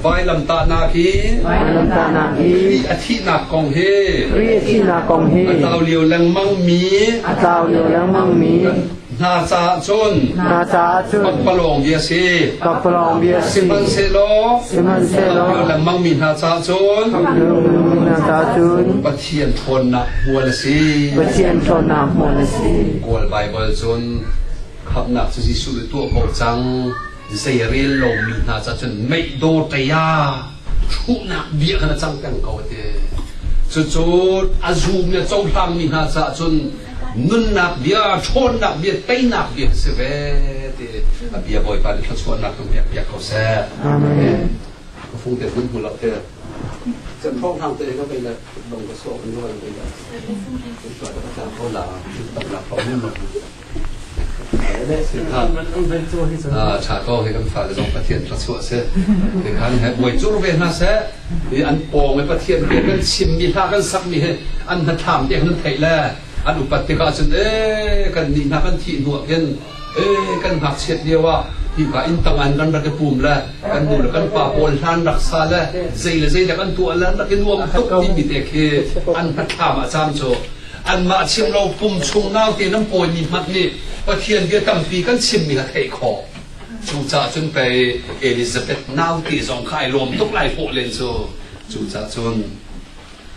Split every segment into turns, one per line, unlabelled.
Vailamtahnak hi Kri a thihnak kong hi a tlau lio lengmangmi hna caah cun pakpalawng bia si sihmanhsehlaw lio lengmangmi hna caah cun Pathian ṭhawnnak hmual a si Kawl Baibal cun khamhnak cu Jesuh nih tuah ko cang zei a rel lomi hna ca cun meihdaw taya thuhnak bia khan a cang peng ko te cucu a zum le cohlangmi hna caah cun nunnak bia ṭhawnnak bia teinak bia si ve ti a bia bawipa nih thluachuahnak tung pek piak ko seh amen ka fung te hun hmulo te chan thong hang te ka kai la dong ka so an rual be da ko la ko la tak la ko mun Ṭha ko, hi kan fale zong Pathian thluachuah a si. Tikhan he buai cur ve hna seh. Hi an pawng i Pathian bia kan chimmi hla kan sakmi hi an hnathlam te kan theih le an upat tikah cun eh kan nih hna kan thih hnuah hin eh kan ngakchiat lio ah hika in tangan kan rak i pum le kan nu le kan pa pawl hlan rak sa le zei le zei le kan tuah le rak i nuam tuk timi te khi an hnathlam a cam cu Anmah chim lo pum chung nau te nan pawimi hmanh nih Pathian bia tampi kan chimmi kha theih khawh. Cucaah cun pei Elizabeth nau te zong kha ai lawm tuk lai hawh len cu. Cucaah cun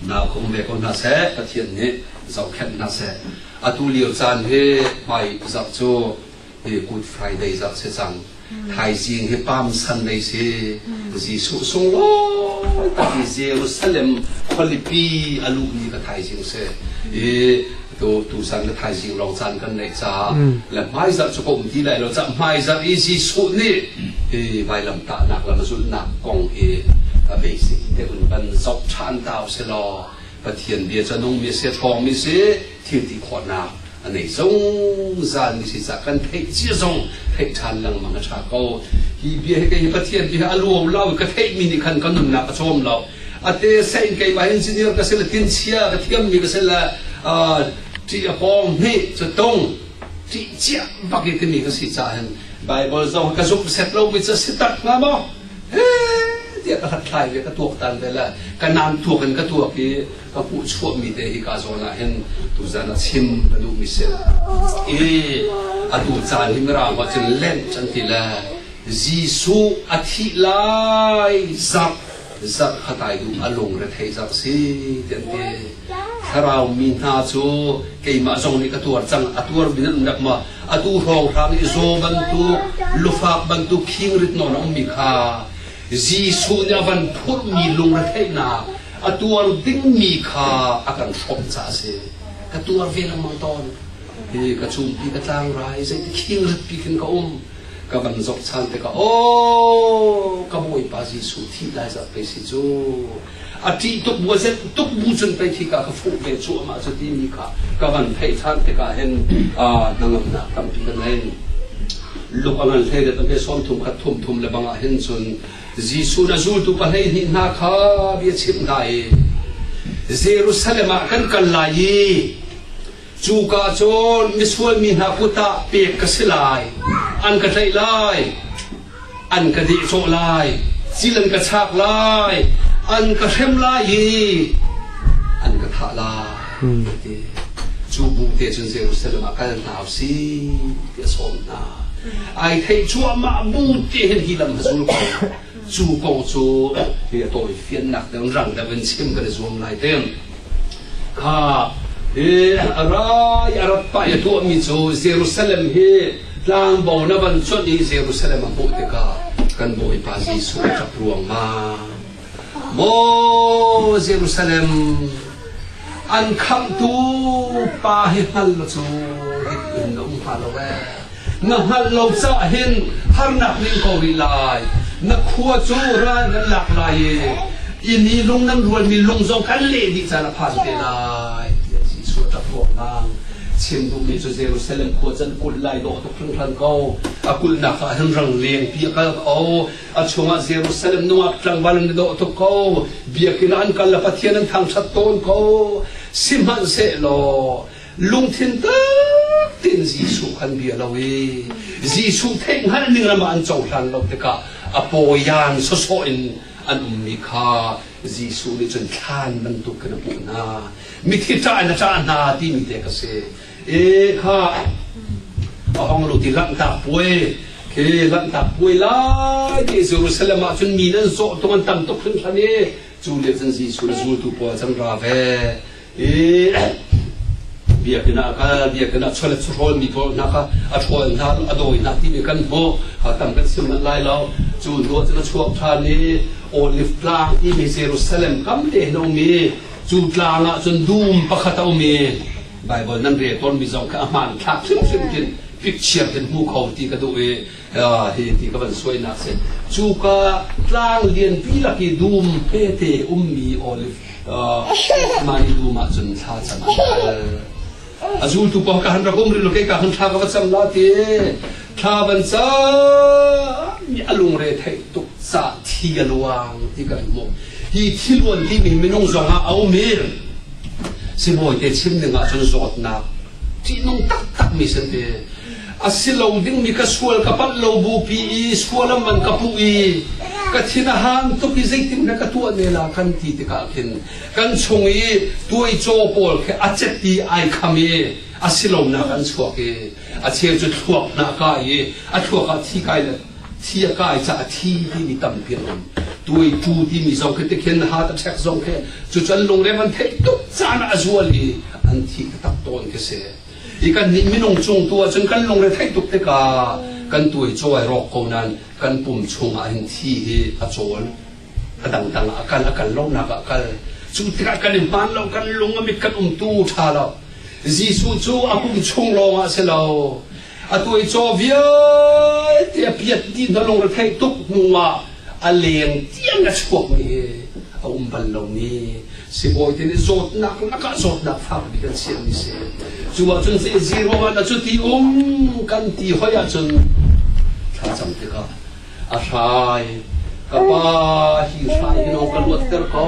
nau ka um ve ko hna seh, Pathian nih zohkhenh hna seh. Atu lio caan hi hmai zarh cu Good Friday zat si cang. Thaizing hi Palm Sunday si Jesuh sunglawi tak i Jerusalem khualipi a luh ni ka thaizing si i tu tu san ka thaizing lawng caan kan neih caah le hmai zarh cu ka um ti lai lo cah hmai zarh i Jesuh nih hi vailam tahnak lam zulhnak kong hi a basic te un ban zok than tau se law Pathian bia ca nung mi se thawng mi si thil ti khawhnak a nei zungzal i si cah kan theih cia zong theih ṭhan lengmang a ṭha ko hi bia hi kei pathian bia a luau lo ka theihmi nih khan ka nunnak a cawm lo a te sa in kei ba engineer ka sel tin chia ka thiammi ka sel ṭih a pawng nih cu tung ṭih cia bak i timi ka si cah hin Bible zong ka zuk set lo mi cu si tak nga maw tiah ka hat thlai ve ka tuak tan ve la ka nan tuak in ka tuak i ka hmuh chuahmi te hi ka zawn ah hin tuzan a chim ka duhmi si i atu caan hi mirang ho cun len can ti le Jesuh a thih lai zak zak khatai du a lung re thei zak si tian ti thlarau mi hna cu keimah zong nih ka tuar cang a tuar bin an dak ma atu hrawng hrang i zo bantuk lufak bantuk khingrit non a ummi kha Jesuh nih a van phurmi lungretheihnak a tuar dingmi kha a kan hrawmh caah a si ka tuar ve lengmang tawn hi ka cumpi ka tlangrai zeiti khingritpi kin ka um ka van zok chan te ka o ka bawipa jesuh thi lai za pei si cu a ti tuk bu zet tuk bu cun pei thi ka ka fuh ve cu ama cu ti mi kha ka van thei than te ka hen a nangam nak tampi ka nei luk angan hle de tampe som thum khat thum thum le banga hen cun Jesuh na zultu pahleihnih hna kha bia chimh hna i Jerusalem ah kan kal lai i cuka cun misual mi hna kut ah pek ka si lai. An ka tlaih lai, an ka dehcawh lai, cil an ka chak lai, an ka hrem lai i an ka thah lai. Cu bu te cun Jerusalem ah kal hna u si ti a sawm hna. Ai thei cuahmah bu te hin hi lam a zul ko. Cu ko cu hi a tawi fiannak deuh rang deuh in chim kan i zuam lai teng. Ha hi a rai a rat pa i tuahmi cu Jerusalem hi tlangbo na van cuanh i Jerusalem a hmuh tikah kan Bawipa Jesuh a ṭap ruangmang. Maw Jerusalem, an khamhtu pa hi hngal lo cu hitin na um hnga lo ee. Na hngalh lo caah hin harnak ning ko rih lai. Na khua cu ran nan lak lai i inn i lung nan rualmi lung zong kan leh dih caan a phan te lai. Tiah Jesuh a ṭap ruangah chim duhmi cu Jerusalem khua can kulh lai dawh tuk hringhran ko. A kulhnak ah hin rang lengpi a kal ko. a chungah Jerusalem nungak tlangval an dawh tuk ko biakinn an kal le pathian an thangṭhat tawn ko sihmanhsehlaw lungthin takin Jesuh kan bia lo i Jesuh theihhngalh ning ram ah an cohlan lo tikah a pawian sawsawh in an ummi kha Jesuh nih cun thlan bantuk in a hmuh hna mithi ṭah in a ṭah hna timi te ka si e kha a hong lu ti lanhtak puai khi lanhtak puai lai ti Jerusalem ah cun mi nan zawh tung an tam tuk hrinhran i cu lio cun Jesuh le zultu puai cang ra ve i biakinn ah kal biakinn ah cholet churawl mi pawl hna kha a ṭhawl hna a dawi hna timi kan hmuh ha tam kan sim manh lai lo cu hnu ah cun a chuak ṭhan i Olive Tlang timi Jerusalem kam te hin a um i cu tlang ah cun dum pakhat a um i Baibal nan rel tawnmi zong kha a hmaan thlak hrimhrim hin picture hin hmu kho ti ka duh i hi ti ka van suainak si cuka tlang lianpi lak i dum phete ummi olive mani dum ah cun thla can an kal a zultu pa ka han rak um ril ke ka han tha ka va chang la ti Thla van cang i a lungre theih tuk cah thi a luang ti kan hmuh. Hi thiluan timi minung zongah a um i sibawite chim ding ahcun zawtnak ṭihnung taktakmi si te a si lo dingmi ka sual ka palh lo bupi i sual an van ka puh i ka thin a hang tuk i zeitin na ka tuah ne la kan ti tikah khin kan chung i tuaicaw pawl khi a cet i ai kham i a silonak an chuak i A cheu cu thluak hna a kai i a thluak ah thi kai le thi a kai caah thi timi tampi a um. Tuaitu timi zong khi tikhin hat a chek zong khi cu cu an lungre an theih tuk caan ah a zual i an thi ka tak tawn khi si. I kan nih minung cung tu ahcun kan lungre theih tuk tikah kan tuai cawi rawk ko nan kan pum chung ah hin thi hi a cawl. a dangdang ah a kal a kal lonak ah a kal cu tikah kan i hmaan lo kan lung a mit kan um tu ṭha lo Jesuh cu a pum chung lawngah si lo a tuai caw vialte a piat ti na lungre theih tuk hnuah a leng tiang a chuakmi hi a um bal lomi sibawi nih zawtnak lakah zawtnak fak bik an siami si cu ahcun zero one a cu ti um kan ti hoi ahcun thlacam tikah a hrai ka pa hi hrai hi lo ka luatter ko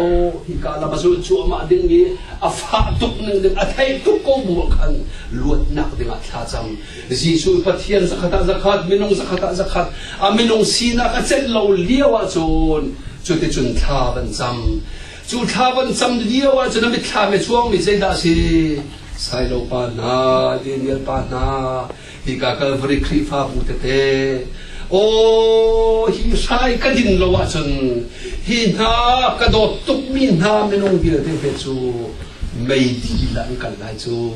hi ka lam a zul cuahmah ding i a fah tuk ning ding a thei tuk ko bu khan luatnak dingah thla cam Jesuh Pathian zakhat ah zakhat minung zakhat ah zakhat a minung sinak a celh lo lio ah cun cuti cun thla ban cam cu thla ban cam lio ah cun a mitthla me chuang mi zeidah a si Sailo pa hna, Daniel pa hna, Hika Kalvari Khrihfabu tete aw hi hrai ka din lo ahcun hi hna ka dawt tukmi hna minung vialte he cu mei dilah an kal lai cu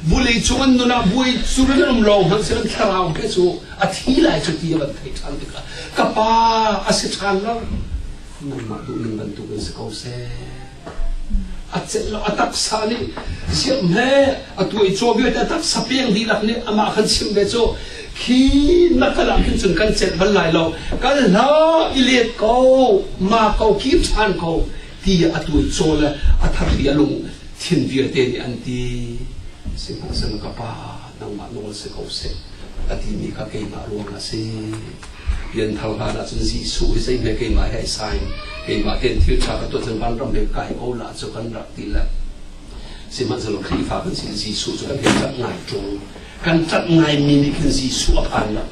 vulei cung an nun ah buai cu an um lo hmanh se thlarau he cu a thi lai cu ti a van theih ṭhan tikah ka pa a si ṭhan lo nangmah duhning bantuk in si ko seh A taksa nih siamh le a tuaicaw vialte a taksa peng dihlak nih amah kan simh ve cu khi na kal ah khin cun kan celh bal lai lo kal hlah i let ko ma ko kir ṭhan ko ti a tuaicaw le a thatli a lung thin vialte nih an ti sihmanhsehlaw ka pa nangmah nawl si ko seh a timi kha keimah ruang ah si Pian thar hlan ah cun Jesuh hi zeihme keimah he ai sain keimah ten thil tha ka tuah cun vanram he kai ko la cu kan rak ti le sihmanhsehlaw Khrihfa kan si Jesuh cu kan he cat ngai ṭung kan cat ngai mi nih khin Jesuh a phan lo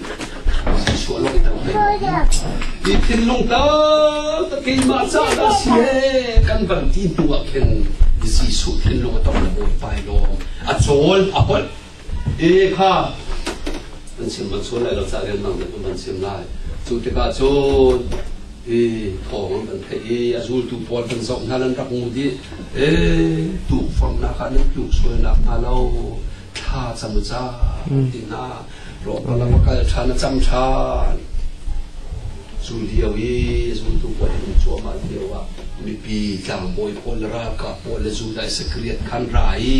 Hi thinlung tal ta keimah caah si he kan van ti hnu ah khin Jesuh thinlung a tong le bawi pai lo a cawl a pon e kha an sim ban sual lai lo ca rian mang nih ban sim lai cu tikah cun i thawng an van theih i a zultu pawl kan zoh hna lan rak mu dih e tu fam nak ah nan tluk sualnak hna lo thla cam u ca tin na rawhpal lam a kal ṭhan a cam ṭhan cu lio i zultu pawl in cuahmah lio ah mipi tlangbawi pawl le ralkap pawl le zu dai sakriat khan ra i